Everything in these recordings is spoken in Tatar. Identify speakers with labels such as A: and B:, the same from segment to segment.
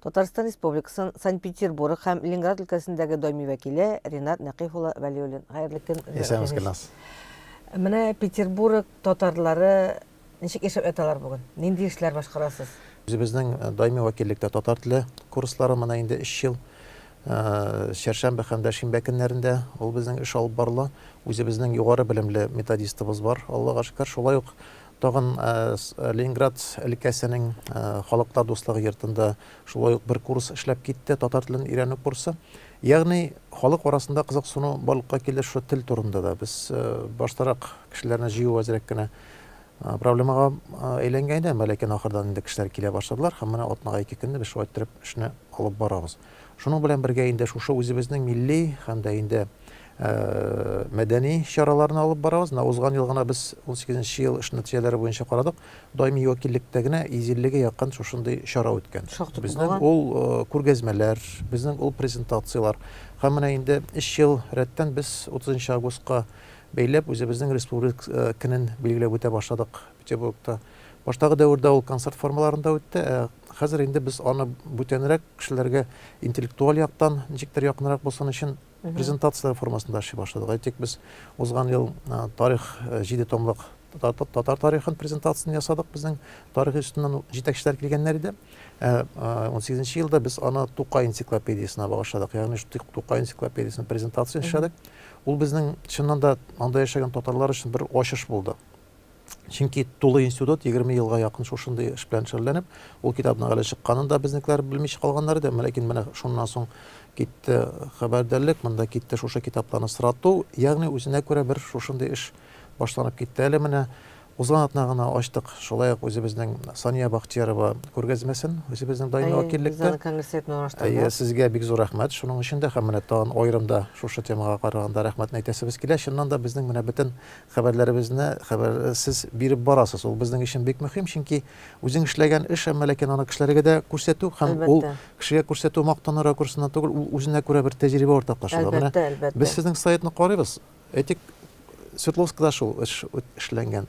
A: Татарстан Республикасын Санкт-Петербург һәм Ленинград өлкәсендәге даими вәкиле Ренат Нәкыйф улы Вәлиуллин. Хәерле көн. Исәнмез Гөлназ.
B: Менә
A: Петербург татарлары ничек яшәп яталар бүген? Нинди эшләр башкарасыз? Үзебезнең э,
B: даими вәкиллектә татар теле курслары менә инде 3 ел э, чәршәмбе һәм дә шимбә көннәрендә ул безнең эш алып барыла. Үзебезнең югары белемле методистыбыз бар, Аллага шөкер. Шулай ук Тагын Ленинград өлкәсенең Халыклар дуслыгы йортында шулай ук бер курс эшләп китте, татар телен өйрәнү курсы. Ягъни халык арасында кызыксыну барлыкка килде шушы тел турында да. Без баштарак кешеләрне җыю әзрәк кенә проблемага әйләнгән иде, әмма ләкин ахырдан инде кешеләр килә башладылар һәм менә атнага ике көнне без шулай иттереп эшне алып барабыз. Шуның белән бергә инде шушы үзебезнең милли һәм дә инде мәдәни чараларны алып барабыз. Менә узган ел гына без 18 ел эш нәтиҗәләре буенча карадык. Даими вәкиллектә генә 150-гә якын шушындый чара үткән. Безнең ул күргәзмәләр, безнең ул презентацияләр. Һәм менә инде 3 ел рәттән без 30 августка бәйләп үзебезнең республик көнен билгеләп үтә башладык. Петербургта. Баштагы дәвердә ул концерт формаларында үтте, ә хәзер инде без аны бүтәнрәк кешеләргә интеллектуаль яктан ничектер якынрак булсын өчен презентация формасында эшли башладык. Әйтик, без узган ел тарих җиде томлык татар тарихын презентациясен ясадык безнең тарих институтыннан җитәкчеләр килгәннәр иде он сигезенче елда без аны тукай энциклопедиясенә багышладык ягъни тукай энциклопедиясенең презентациясен эшләдек ул безнең чыннан да анда яшәгән татарлар өчен бер ачыш булды Чөнки тулы институт егерме елга якын шушындый эш белән шөгыльләнеп, ул китапның әле чыкканын да безнекеләр белмичә калганнар иде. Ләкин менә шуннан соң китте хәбәрдәрлек, монда китте шушы китапларны сорату, ягъни үзенә күрә бер шушындый эш башланып китте. Әле менә узган атна гына ачтык, шулай ук үзебезнең Сания Бахтиярова күргәзмәсен, үзебезнең даими вәкиллектә. Әйе, сезгә бик зур рәхмәт шуның өчен дә һәм менә тагын аерым да шушы темага караганда рәхмәтне әйтәсебез килә. Чыннан да безнең менә бөтен Хәбәрләребезне хәбәрсез биреп барасыз. Ул безнең өчен бик мөһим, чөнки үзең эшләгән эш, әмма ләкин аны кешеләргә дә күрсәтү һәм ул Әлбәттә. кешегә күрсәтү, мактану ракурсыннан түгел, ул үзенә күрә бер тәҗрибә уртаклашуда. Менә Әлбәттә, әлбәттә. без сезнең сайтны карыйбыз. Әйтик, Свердловскда шул эш үт- эшләнгән.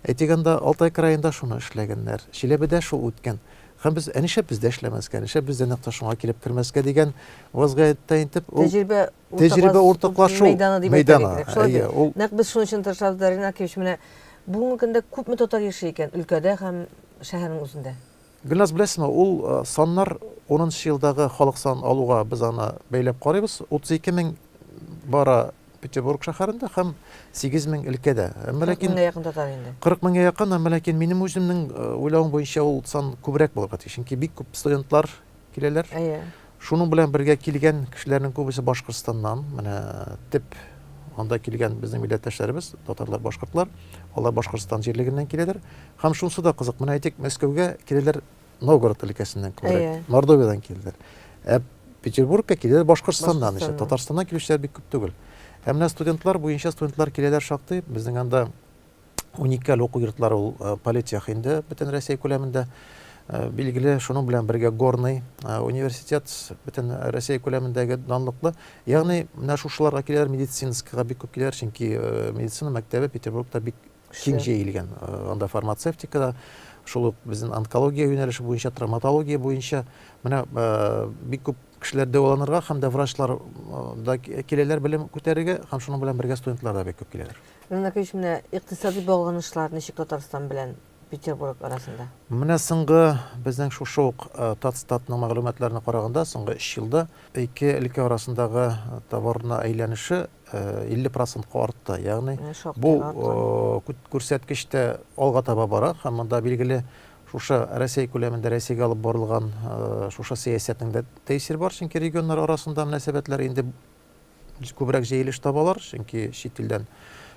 B: Әйтик, анда Алтай краенда шуны эшләгәннәр. Чиләбедә шул үткән. Һәм без, ә нишләп бездә эшләмәскә, нишләп бездә нәкъ тә шуңа килеп кермәскә дигән вазгыятьтә интеп, ул Тәҗрибә Тәҗрибә уртаклашу мәйданы. Нәкъ без
A: шуның өчен тырышабыз да, Ринат Акимович, менә бүгенге көндә күпме татар яши икән өлкәдә һәм шәһәрнең үзендә? Гөлназ, беләсезме,
B: ул саннар унынчы елдагы халык санын алуга без аны бәйләп карыйбыз. 32 мең бара Петербург шәһәрендә һәм 8 мең өлкәдә. Әмма ләкин 40 меңгә якын татар
A: инде. 40 меңгә якын, әмма
B: ләкин минем үземнең уйлавым буенча ул сан күбрәк булырга тиеш. Чөнки бик күп студентлар киләләр. Әйе. Шуның белән бергә килгән кешеләрнең күбесе Башкортстаннан. Менә төп анда килгән безнең милләттәшләребез, татарлар, башкортлар. Алар Башкортстан җирлегеннән киләләр. Һәм шунысы да кызык, менә әйтик, Мәскәүгә киләләр Новгород өлкәсеннән күбрәк, Мордовиядән киләләр. Ә Петербургка киләләр Башкортстаннан исә. Татарстаннан килүчеләр бик күп түгел. Ә менә студентлар буенча студентлар киләләр шактый. Безнең анда Уникаль уку йортлары ул э, политех инде бөтен Россия күләмендә. Э, билгеле, шуның белән бергә Горный э, университет бөтен Россия күләмендәге данлыклы. Ягъни, менә шушыларга киләр медицинскага бик күп киләр, чөнки медицина мәктәбе Петербургта бик киң җәелгән. Анда фармацевтика да, шул ук безнең онкология юнәлеше буенча, травматология буенча менә бик күп кешеләр дәваланырга һәм дә врачлар да киләләр белем күтәрергә һәм шуның белән бергә студентлар да бик күп киләләр. Иван Яковлевич, менә
A: икътисади багланышлар ничек Татарстан белән Петербург арасында? Менә соңгы
B: безнең шушы ук Татстатның мәгълүматларына караганда, соңгы өч елда ике өлкә арасындагы товарны әйләнеше 50 процентка артты. Ягъни бу күрсәткеч тә алга таба бара һәм монда билгеле шушы Россия күләмендә Россиягә алып барылган шушы сәясәтнең дә тәэсире бар, чөнки регионнар арасында мөнәсәбәтләр инде күбрәк җәелеш табалар, чөнки чит илдән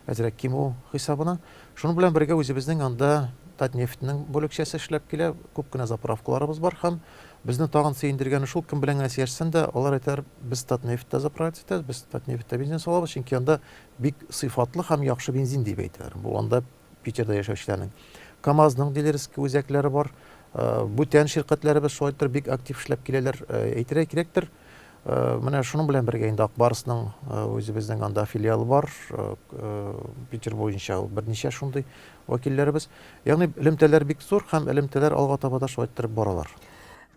B: әзрәк кимү хисабына. Шуның белән бергә үзебезнең анда Татнефтьнең бүлекчәсе эшләп килә, күп кенә заправкаларыбыз бар һәм безне тагын сөендергәне шул, кем белән генә сөйләшсәң дә, алар әйтәләр, без Татнефтьтә заправиться итәбез, без Татнефтьтә бензин салабыз, чөнки анда бик сыйфатлы һәм яхшы бензин дип әйтәләр. Бу анда Питерда яшәүчеләрнең. КАМАЗның дилерский үзәкләре бар. Бүтән ширкәтләребез шулайтыр бик актив эшләп киләләр. Әйтергә кирәктер, менә шуның белән бергә инде Акбарсның үзебезнең анда филиалы бар. Питер буенча ул берничә шундый вәкилләребез. Ягъни элемтәләр бик зур һәм элемтәләр алга таба да шулайтыр баралар.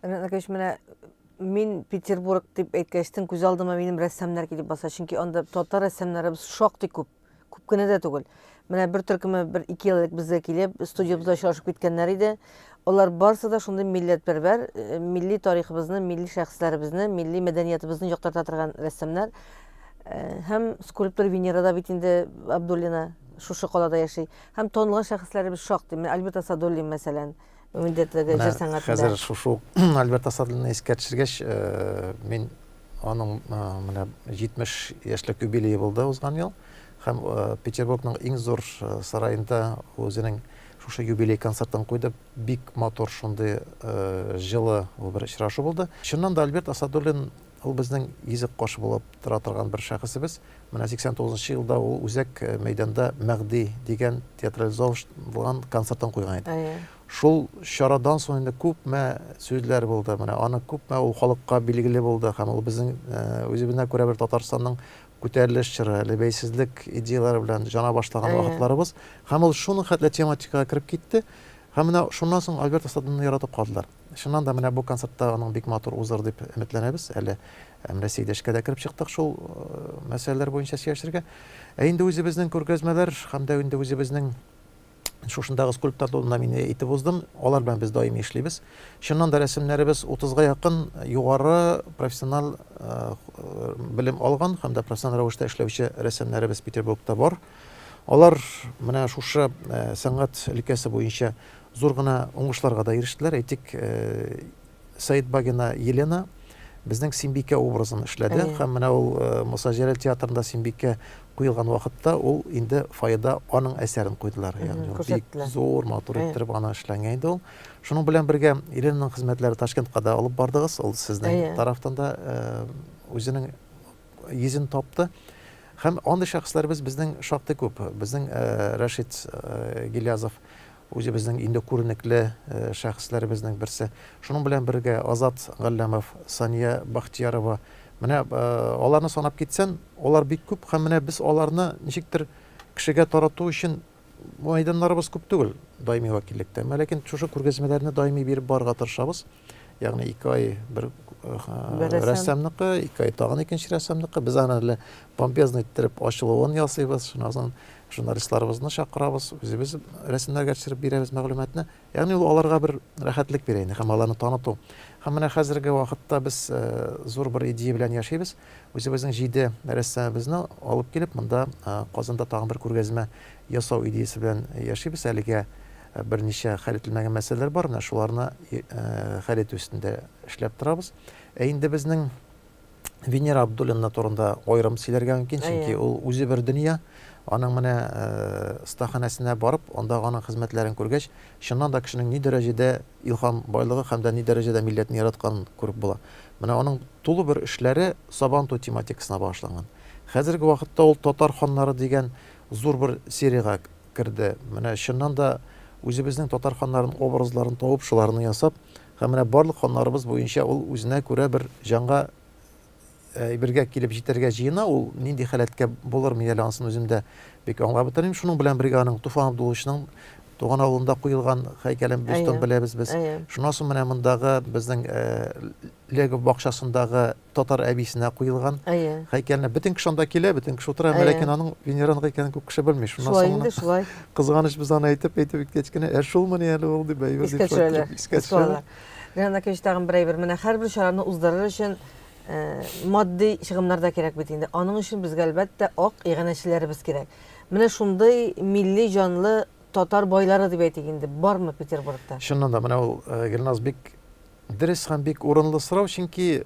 B: Ренат Накович, менә
A: мин Петербург дип әйткәчтен күз алдыма минем рәссамнар килеп баса, чөнки анда татар рәссамнарыбыз шактый күп. Күп кенә дә түгел. Менә бер төркеме бер ике ел элек безгә килеп, студиябездә очрашып киткәннәр иде. Алар барысы да шундый милләтпәрвәр, э, милли тарихыбызны, милли шәхесләребезне, милли мәдәниятебезне яктырта торган рәссамнар. Э, һәм скульптор Венера да бит инде Абдуллина шушы калада яши. Һәм танылган шәхесләребез шактый. Менә Альберт Асадуллин, мәсәлән, Мендәтлеге җыр сәнгатендә. Хәзер шушы
B: Альберт Асадлыны искә төшергәч, э, мин аның э, менә 70 яшьлек юбилее булды узган ел һәм э, Петербургның иң зур сараенда үзенең шушы юбилей концертын куйды. Бик матур шундый җылы бер очрашу булды. Чыннан да Альберт Асадуллин Ул безнең йөзек кош булып тора торган бер шәхесебез. Менә 89 нчы елда ул үзәк э, мәйданда Мәгъди дигән театрализован концертын куйган иде. Әйе. Шул чарадан соң инде күпме сүзләр булды. Менә аны күпме ул халыкка билгеле булды һәм ул безнең э, үзебезне күрә бер Татарстанның күтәрелеш чоры, әле бәйсезлек идеяләре белән жана башлаган вакытларыбыз. Һәм ул шуның хәтле тематикага кереп китте. Һәм менә шуннан соң Альберт Асадовны яратып калдылар. Чыннан да, менә бу концерт та аның бик матур узыр дип өметләнәбез. Әле менә Сәйдәшкә дә кереп чыктык шул мәсьәләләр буенча сөйләшергә. Ә инде үзебезнең күргәзмәләр һәм дә инде үзебезнең шушындагы скульптор турында мин әйтеп уздым. Алар белән без даими эшлибез. Чыннан да рәсемнәребез 30-га якын югары профессиональ белем алган һәм дә профессиональ рәвештә эшләүче рәсемнәребез Петербургта бар. Алар менә шушы сәнгать өлкәсе буенча Зур гына уңышларга да ирештеләр. Әйтик, Сәетбагина Елена безнең Симбикә образын эшләде һәм менә ул Муса Җәләл театрында Симбикә куелган вакытта ул инде фойеда аның әсәрен куйдылар. Ягъни бик зур, матур иттереп аны эшләнгән иде ул. Шуның белән бергә Еленаның хезмәтләре Ташкентка да алып бардыгыз. Ул сезнең тарафтан да үзенең йөзен тапты. Һәм андый шәхесләребез безнең шактый күп. Безнең Рәшит Гилязов үзебезнең инде күренекле шәхесләребезнең берсе. Шуның белән бергә Азат Галләмов, Сания Бахтиярова. Менә аларны санап китсән, алар бик күп һәм менә без аларны ничектер кешегә тарату өчен Мәйданнарыбыз күп түгел даими вәкиллектә. Әмма ләкин шушы күргәзмәләрне даими биреп барырга тырышабыз. Ягъни ике ай бер рәссамныкы, ике ай тагын икенче рәссамныкы. Без аны әле помпезно иттереп ачылуын ясыйбыз. Шуннан соң журналистларыбызны чакырабыз, үзебез рәсемнәргә төшереп бирәбез мәгълүматны. Ягъни ул аларга бер рәхәтлек бирә инде һәм аларны таныту. Һәм менә хәзерге вакытта без зур бер идея белән яшибез. Үзебезнең җиде рәссамыбызны алып килеп, монда Казанда тагын бер күргәзмә ясау идеясе белән яшибез. Әлегә берничә хәл ителмәгән мәсьәләләр бар, менә шуларны хәл итү өстендә эшләп торабыз. Ә инде безнең Венера Абдуллина турында аерым сөйләргә мөмкин, чөнки ул үзе бер дөнья. Аның менә стаханәсенә барып, анда аның хезмәтләрен күргәч, чыннан да кешенең ни дәрәҗәдә илһам байлыгы һәм дә ни дәрәҗәдә милләтне яратканын күреп була. Менә аның тулы бер эшләре Сабантуй тематикасына багышланган. Хәзерге вакытта ул Татар ханнары дигән зур бер сериягә керде. Менә чыннан да үзебезнең татар ханнарын образларын табып, шуларны ясап, Һәм менә барлык ханнарыбыз буенча ул үзенә күрә бер җанга әйбергә килеп җитәргә җыена, ул нинди халәткә булыр мин әле ансын үзем дә бик аңлап бетермим. Шуның белән бергә аның Туфан Абдулловичның туган авылында куелган хәйкәлен бөстон беләбез без. Шуннан соң менә мондагы безнең Легов бакчасындагы татар әбисенә куелган һәйкәлне. Бөтен кеше анда килә, бөтен кеше утыра, әмма ләкин аның венеранга икәнен күп кеше белми. Шуннан соң гына. Шулай инде, шулай. Кызганыч, без аны әйтеп, әйтеп киткәч кенә, ә шулмыни әле ул, дип, әйбер дип шаяртып искә төшерәләр.
A: Менә Наки өчен тагын бер әйбер. Менә һәрбер чараны уздырыр өчен матди чыгымнар да кирәк бит инде. Аның өчен безгә, әлбәттә, ак иганәчеләребез кирәк. Менә шундый милли җанлы татар байлары дип әйтик инде, бармы Петербургта? Чыннан да, менә ул
B: Гөлназ бик Дөрес һәм бик урынлы сорау, чөнки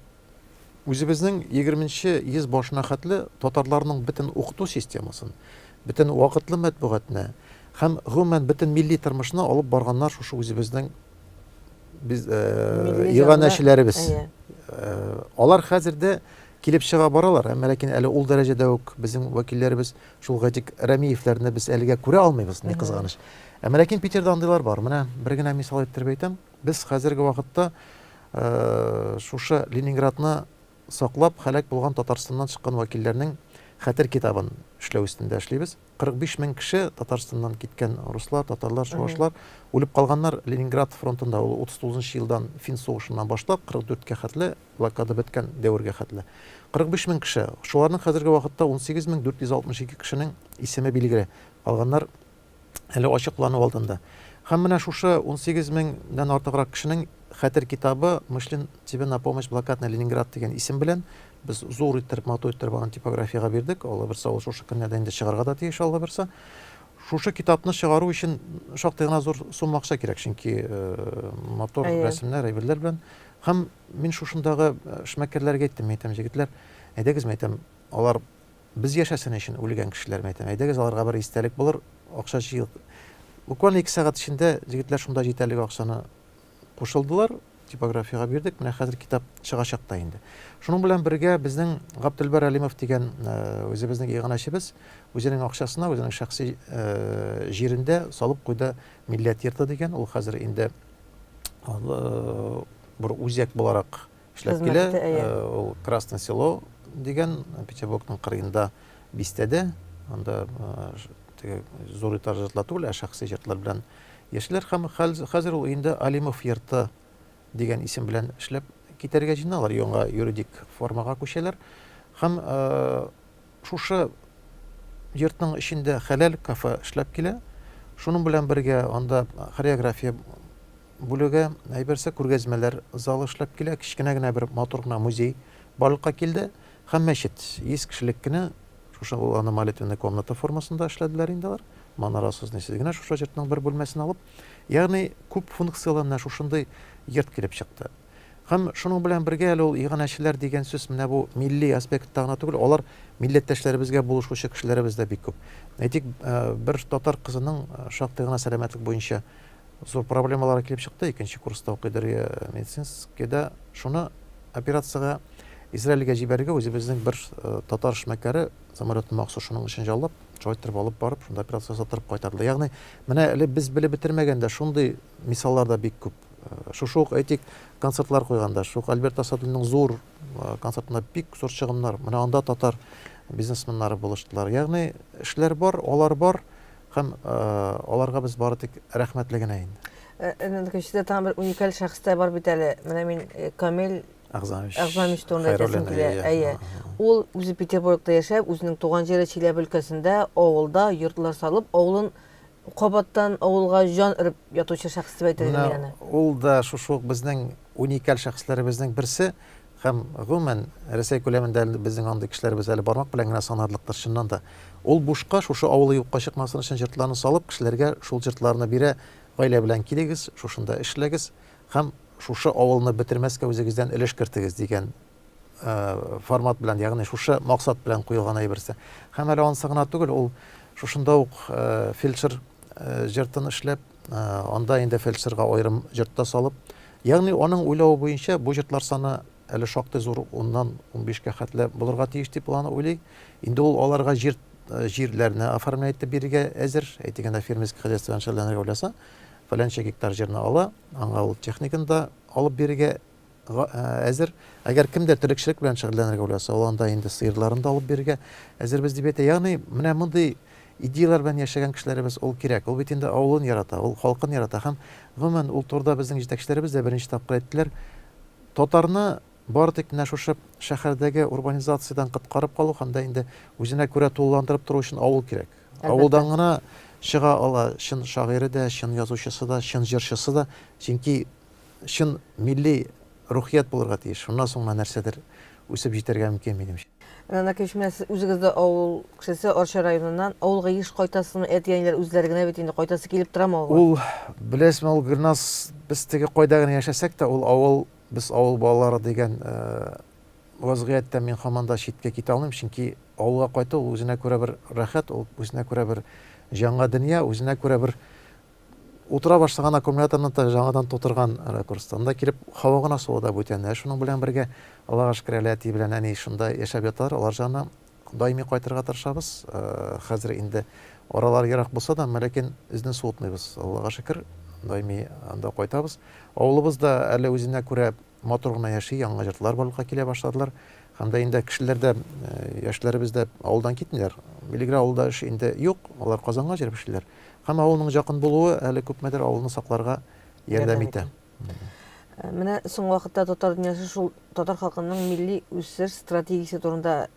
B: үзебезнең егерменче йөз башына хәтле татарларның бөтен укыту системасын, бөтен вакытлы мәтбугатны һәм гомумән бөтен милли тормышны алып барганнар шушы үзебезнең без иганәчеләребез. Алар хәзер дә килеп чыга баралар, әмма ләкин әле ул дәрәҗәдә үк безнең вәкилләребез шул Гатик Рәмиевләрне без әлегә күрә алмыйбыз, ни кызганыч. Әмма ләкин Питерда андыйлар бар. Менә бер генә мисал иттереп әйтәм. Без хәзерге вакытта шушы Ленинградны саклап һәлак булган Татарстаннан чыккан вәкилләрнең хәтер китабын эшләү өстендә эшлибез. 45 мең кеше Татарстаннан киткән руслар, татарлар, чувашлар үлеп калганнар Ленинград фронтында. Ул 39 нчы елдан фин сугышыннан башлап 44 кә хәтле, блокада беткән дәвергә хәтле. 45 мең кеше. Шуларның хәзерге вакытта 18 мең 462 кешенең исеме билгеле. Калганнар әле ачыклану алдында. Һәм менә шушы 18 меңнән артыграк кешенең хәтер китабы Мышлин тебе на помощь блокадный Ленинград дигән исем белән без зур иттереп, матур иттереп аны типографиягә бирдек. Аллабирса, ул шушы көннәрдә инде чыгарга да тиеш, Аллабирса. Шушы китапны чыгару өчен шактый гына зур сумма акча кирәк, чөнки э, матур рәсемнәр, әйберләр белән. Һәм мин шушындагы э, эшмәкәрләргә әйттем, әйтәм, җегетләр, әйдәгез, әйтәм, алар Без яшәсен өчен үлгән кешеләрем әйтәм, әйдәгез аларга бер истәлек булыр акча җыйыйк. Буквально ике сәгать эчендә җегетләр шунда җитәрлек акчаны кушылдылар, типографиягә бирдек, менә хәзер китап чыгачак та инде. Шуның белән бергә безнең Гаптелбәр Әлимов дигән э, үзебезнең иганәчебез үзенең акчасына, үзенең шәхси э, җирендә салып куйды Милләт йорты дигән, ул хәзер инде э, бер үзәк буларак эшләп килә. Ул Красное село дигән Петербургның кырыенда бистәдә, анда теге зур итар җыртлар түгел, ә шәхси җыртлар белән яшиләр һәм хәзер ул өендә Алимов йорты дигән исем белән эшләп китәргә җыеналар, яңа юридик формага күчәләр. Һәм Шушы йортның эчендә хәләл кафе эшләп килә. Шуның белән бергә анда хореография бүлеге, әйберсе күргәзмәләр залы эшләп килә, кечкенә генә бер матур гына музей барлыкка килде һәм мәчет. Йөз кешелек кенә шушы ул аны молитвенная комната формасында эшләделәр инде алар. Манарасыз, нисез генә шушы йортның бер бүлмәсен алып. Ягъни күп функцияле менә шушындый йорт килеп чыкты. Һәм шуның белән бергә әле ул иганәчеләр дигән сүз менә бу милли аспектта гына түгел, алар милләттәшләребезгә булышучы кешеләребез дә бик күп. Әйтик, бер татар кызының шактый гына сәламәтлек буенча зур проблемалары килеп чыкты, икенче курста укый Дөрия медицинскийда. Шуны операциягә Израильгә җибәрергә үзебезнең бер татар эшмәкәре самолетны махсус шуның өчен җаллап, шулай итеп алып барып, шунда операция ясатып кайтарды. Ягъни, менә әле без белеп бетермәгәндә шундый мисаллар да бик күп. Шушы ук, әйтик, концертлар куйганда, шук Альберт Асадуллинның зур концертында бик зур чыгымнар. Менә анда татар бизнесменнары булыштылар. Ягъни эшләр бар, алар бар һәм аларга без бары тик рәхмәтле генә инде. Әнә көчле тагын бер
A: уникаль шәхес тә бар бит әле. Менә мин Камил Әгъзамович. Әгъзамович турында әйтәсем килә. Әйе. Ул үзе Петербургта яшәп, үзенең туган җире Чиләбе өлкәсендә авылда йортлар салып, авылын Кабаттан авылга җан өреп ятучы шәхес дип әйтер идем мин аны. Ул да шушы ук
B: безнең уникаль шәхесләребезнең берсе һәм гомумән Рәсәй күләмендә безнең андый кешеләребез әле бармак белән генә санарлыктыр чыннан да. Ул бушка шушы авылы юкка чыкмасын өчен җыртларны салып, кешеләргә шул җыртларны бирә, гаилә белән килегез, шушында эшләгез һәм шушы авылны бетермәскә үзегездән өлеш кертегез дигән формат белән, ягъни шушы максат белән куелган әйберсе. Һәм әле ансы гына түгел, ул шушында ук фельдшер җыртын эшләп, анда инде фельдшерга аерым җыртта салып, ягъни аның уйлавы буенча бу җыртлар саны әле шактый зур, уннан унбишкә хәтле булырга тиеш дип план уйлый. Инде ул аларга җир җирләрне оформлять итеп бирергә әзер, әйтегәндә фермерский хозяйстводан шөгыльләнергә уйласа, фәләнчә гектар җирне ала, аңа ул техниканы да алып бирергә Га әзер. Әгәр кем дә терлекчелек белән шөгыльләнергә уйласа, ул анда инде сыерларын да алып бирергә әзербез, дип әйтә. Ягъни, менә мондый идеяләр белән яшәгән кешеләребез, ул кирәк. Ул бит инде авылын ярата, ул халкын ярата. Һәм, гомумән, ул турыда безнең җитәкчеләребез дә берничә тапкыр әйттеләр, татарны бары тик менә шушы шәһәрдәге урбанизациядән коткарып калу һәм дә инде үзенә күрә тулыландырып тору өчен авыл кирәк. Авылдан гына чыга ала чын шагыйре дә, чын язучысы да, чын җырчысы да. Чөнки чын милли рухият булырга тиеш. Шуннан соң гына нәрсәдер үсеп җитәргә мөмкин, минемчә. Рәнә Кәчмә, сез
A: үзегез дә авыл кешесе, Арча районыннан. Авылга еш кайтасызмы? Әти-әниләр үзләре генә бит инде, кайтасы килеп торамы авылга? Ул, беләсезме,
B: ул, Гөлназ, без теге кайда генә яшәсәк тә, ул авыл, без авыл балалары дигән вазгыятьтән мин һаман да читкә китә алмыйм, чөнки авылга кайту ул үзенә күрә бер рәхәт, ул үзенә күрә бер җанга дөнья, үзенә күрә бер Утыра башлаган аккумуляторны та жаңадан тутырган ракурста. Анда килеп һава гына суы да бүтәнләя. Шуның белән бергә аларга шөкерәле әти белән әни шунда яшәп яталар. Алар җанына даими кайтырга тырышабыз. Хәзер инде аралар ерак булса да, әмма ләкин үзне суытмыйбыз. Аллага шөкер, даими анда кайтабыз. Авылыбыз да әле үзенә күрә Матур гына яши, яңа йортлар барлыкка килә башладылар. Һәм дә инде кешеләр дә, яшьләребез дә авылдан китмиләр. Милигрә авылда эш инде юк, алар Казанга җыелып эшлиләр. Һәм авылның жакын булуы әле күпмедер авылны сакларга ярдәм итә.
A: Менә соң вакытта татар дөньясы шул татар халкының милли үсеш стратегиясе турында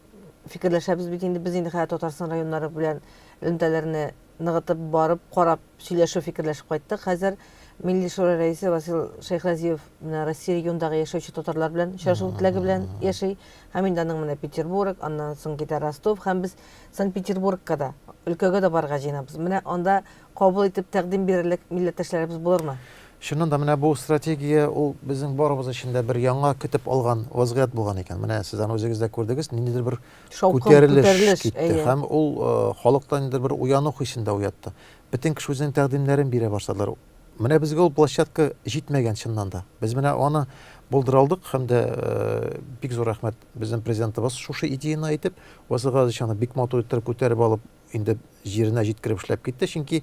A: фикерләшәбез бит инде. Без инде хәзер Татарстан районнары белән элемтәләрне ныгытып барып, карап, сөйләшеп, фикерләшеп кайттык. Хәзер Милли шура рәисе Васил Шәйхразиев менә Россия регионындагы яшәүче татарлар белән очрашу теләге белән яши. Һәм инде аның менә Петербург, аннан соң китә Ростов һәм без Санкт-Петербургка да, өлкәгә дә барырга җыенабыз. Менә анда кабул итеп тәкъдим бирерлек милләттәшләребез булырмы? Чыннан да, менә бу
B: стратегия, ул безнең барыбыз өчен дә бер яңа көтеп алган вазгыять булган икән. Менә сез аны үзегез дә күрдегез, ниндидер бер Шаукым, Күтәрелеш күтәрелеш, китте әйе. һәм ул э, халыкта инде бер уяну хисен дә уятты. Бөтен кеше үзенең тәкъдимнәрен бирә башладылар. Менә безгә ул площадка җитмәгән чыннан да. Без менә аны булдыра алдык һәм дә э, бик зур рәхмәт безнең президентыбыз шушы идеяны әйтеп, Ваза Газович аны бик матур иттереп күтәреп алып, инде җиренә җиткереп эшләп китте, чөнки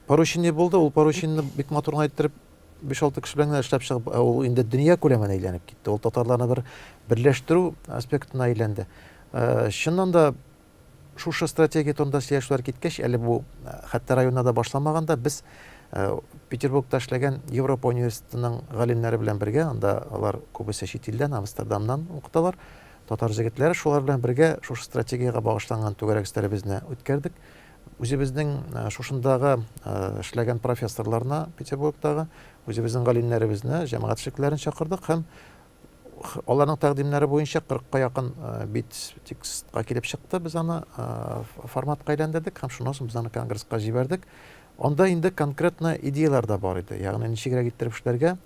B: поручение булды, ул поручениене бик матур гына иттереп Биш-алты кеше белән генә эшләп чыгып, ә ул инде дөнья күләмен әйләнеп китте. Ул татарларны бер берләштерү аспектына әйләнде. Э, чыннан да шушы стратегия турында сөйләшүләр киткәч, әле бу э, хәтта районда да башламаганда без э, Петербургта эшләгән Европа университетының галимнәре белән бергә, анда алар күбесе чит илдән, Амстердамнан укыталар, татар җегетләре шулар белән бергә шушы стратегиягә багышланган түгәрәк өстәлебезне үткәрдек. Үзебезнең шушындагы эшләгән профессорларны Петербургтагы, үзебезнең галимнәребезне, җәмәгать эшлеклеләрен чакырдык һәм аларның тәкъдимнәре буенча 40-ка якын бит текстка килеп чыкты. Без аны форматка әйләндердек һәм шуннан соң без аны конгресска җибәрдек. Анда инде конкретно идеялар да бар иде. Ягъни ничегрәк иттереп эшләргә,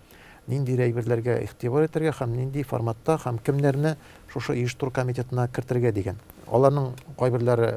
B: нинди әйберләргә игътибар итәргә һәм нинди форматта һәм кемнәрне шушы оештыру комитетына кертергә дигән. Аларның кайберләре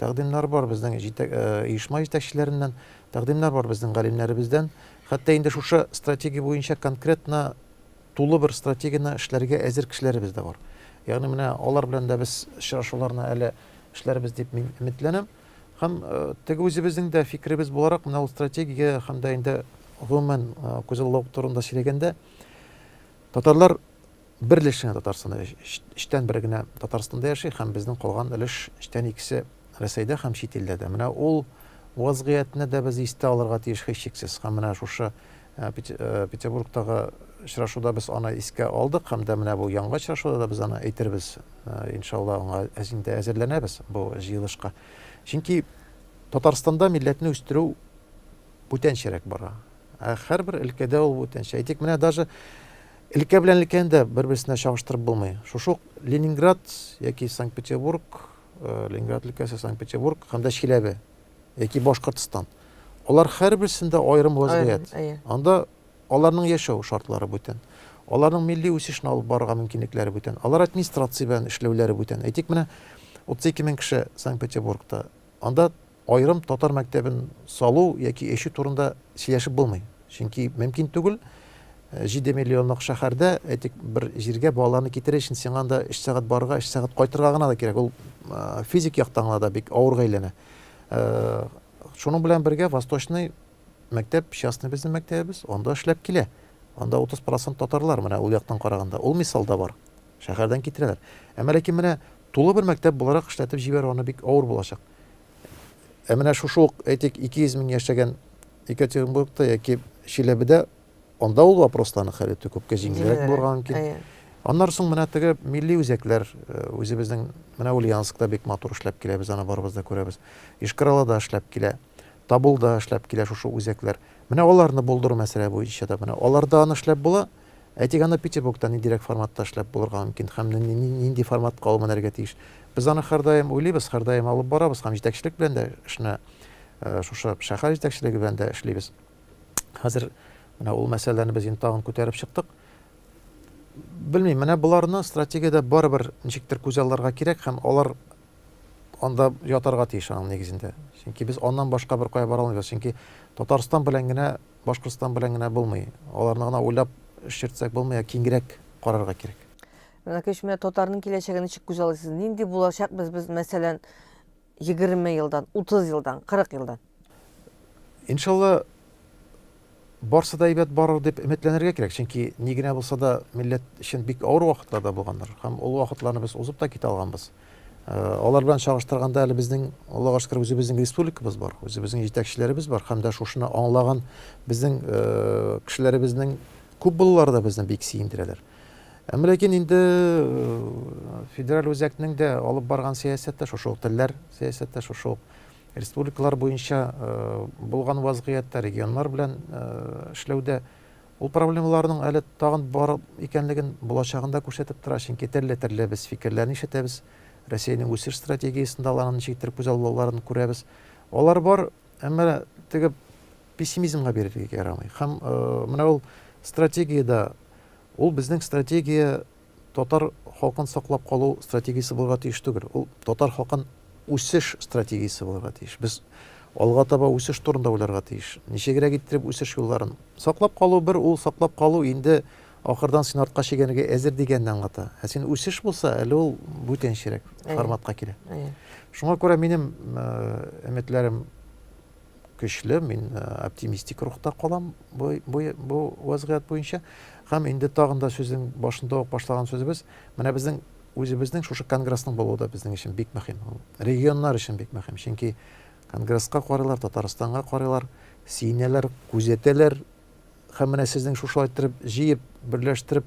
B: Тәкъдимнәр бар безнең оешма җитәкчеләреннән, тәкъдимнәр бар безнең галимнәребездән. Хәтта инде шушы стратегия буенча конкретно тулы бер стратегияне эшләргә әзер кешеләребез дә бар. Ягъни менә алар белән дә без очрашуларны әле эшләрбез дип мин өметләнәм. Һәм э, теге үзебезнең дә фикеребез буларак, менә ул стратегия һәм дә инде гомумән э, күзаллау турында сөйләгәндә, татарлар Бер өлеш кенә Татарстанда яши. Өчтән бере генә Татарстанда яши һәм безнең калган өлеш, өчтән икесе, Рәсәйдә һәм чит илләрдә. Менә ул вазгыятьне дә без истә алырга тиеш һичшиксез. Һәм менә шушы Петербургтагы очрашуда без аны искә алдык һәм дә менә бу яңгы очрашуда да без аны әйтербез. Иншалла, аңа инде әзерләнәбез бу җыелышка. Чөнки Татарстанда милләтне үстерү бүтәнчәрәк бара. Ә һәрбер өлкәдә ул бүтәнчә. Әйтик, менә даже Өлкә белән өлкәне дә бер-берсенә чагыштырып булмый. Шушы ук Ленинград яки Санкт-Петербург, э, Ленинград өлкәсе, Санкт-Петербург һәм дә Чиләбе яки Башкортстан. Алар һәрберсендә аерым вазгыять. Анда аларның яшәү шартлары бүтән. Аларның милли үсешне алып барырга мөмкинлекләре бүтән. Алар администрация белән эшләүләре бүтән. Әйтик, менә 32 мең кеше Санкт-Петербургта. Анда аерым татар мәктәбен салу яки эчү турында сөйләшеп булмый. Чөнки мөмкин түгел. 7 миллионлык шәһәрдә, әйтик, бер җиргә балаларны китерер өчен сиңа анда 3 сәгать барырга, 3 сәгать кайтырга гына да кирәк. Ул физик яктан да бик авырга әйләнә. Шуның белән бергә Восточный мәктәп, частный безнең мәктәбебез, анда эшләп килә. Анда 30% татарлар, менә ул яктан караганда. Ул мисал да бар. Шәһәрдән китерәләр. Әмма ләкин менә Тулы бер мәктәп буларак эшләтеп җибәрү аны бик авыр булачак. Ә менә шушы ук, әйтик, 200 мең яшәгән Екатеринбургта яки Чиләбедә, анда ул вопросларның хәле күпкә җиңелрәк булырга мөмкин. Аннары соң менә теге милли үзәкләр э, үзебезнең менә Ульяновскта бик матур эшләп килә, без аны барыбыз да күрәбез. Ишкаралада эшләп килә, Табулда эшләп килә шушы үзәкләр. Менә аларны булдыру мәсьәлә буенча да менә аларда аны эшләп була. Әйтик, аны Петербургта ниндирәк форматта эшләп булырга мөмкин һәм нинди форматка ул менәргә тиеш? Без аны һәрдаим уйлыйбыз, һәрдаим алып барабыз һәм җитәкчелек белән дә эшне, шушы шәһәр җитәкчелеге белән дә эшлибез. Хәзер менә ул мәсьәләләрне без инде тагын күтәреп чыктык. Белмим, менә боларны стратегиядә барыбер ничектер күзалларга кирәк һәм алар анда ятарга тиеш аның нигезендә. Чөнки без аннан башка бер кая бара алмыйбыз. Чөнки Татарстан белән генә Башкортстан белән генә булмый. Аларны гына уйлап эш йөртсәк булмый, ә киңрәк карарга кирәк. Мәләкәш, менә
A: татарның киләчәге ничек күз алыйсыз? Нинди булачакбыз без, мәсәлән, 20 елдан, 30 елдан, 40 елдан?
B: Иншалла, барсы да әйбәт барыр дип өметләнергә кирәк. Чөнки ни генә булса да милләт өчен бик авыр вакытларда булгандыр. Һәм ул вакытларны без узып та китә алганбыз. Алар белән чагыштырганда әле безнең Аллага шөкер үзебезнең республикабыз бар, үзебезнең җитәкчеләребез бар һәм дә шушыны аңлаган безнең кешеләребезнең күп булулары да безне бик сөендерәләр. Әмма ләкин инде федераль үзәкнең дә алып барган сәясәте шушы ук телләр сәясәте, шушы ук республикалар буенча булган вазгыятьтә регионнар белән эшләүдә Ул проблемаларның әле тагын бар икәнлеген булачагын да күрсәтеп тора, чөнки төрле-төрле без фикерләрне ишетәбез, Россиянең үсеш стратегиясендә аларның ничектер күз алуларын күрәбез. Алар бар, әмма теге пессимизмга бирергә ярамый. Һәм э, менә ул стратегиядә, ул безнең стратегия татар халкын саклап калу стратегиясе булырга тиеш түгел. Ул татар халкын үсеш стратегиясе булырга тиеш. Без алга таба үсеш турында уйларга тиеш. Ничегрәк иттереп үсеш юлларын. Саклап калу бер, ул саклап калу инде ахырдан син артка чигенергә әзер дигәнне аңлата. Ә син үсеш булса, әле ул бүтәнчерәк форматка килә. Шуңа күрә минем өметләрем көчле, мин э, оптимистик рухта калам бу, бу, бу вазгыять буенча. Һәм инде тагын да сүзнең башында ук башлаган сүзебез, менә безнең үзебезнең шушы конгрессның булуы да безнең өчен бик мөһим. Регионнар өчен бик мөһим, чөнки конгрессқа карыйлар, Татарстанга карыйлар, сиенәләр, күзәтәләр. Һәм менә сезнең шушы айттырып, җыеп, берләштереп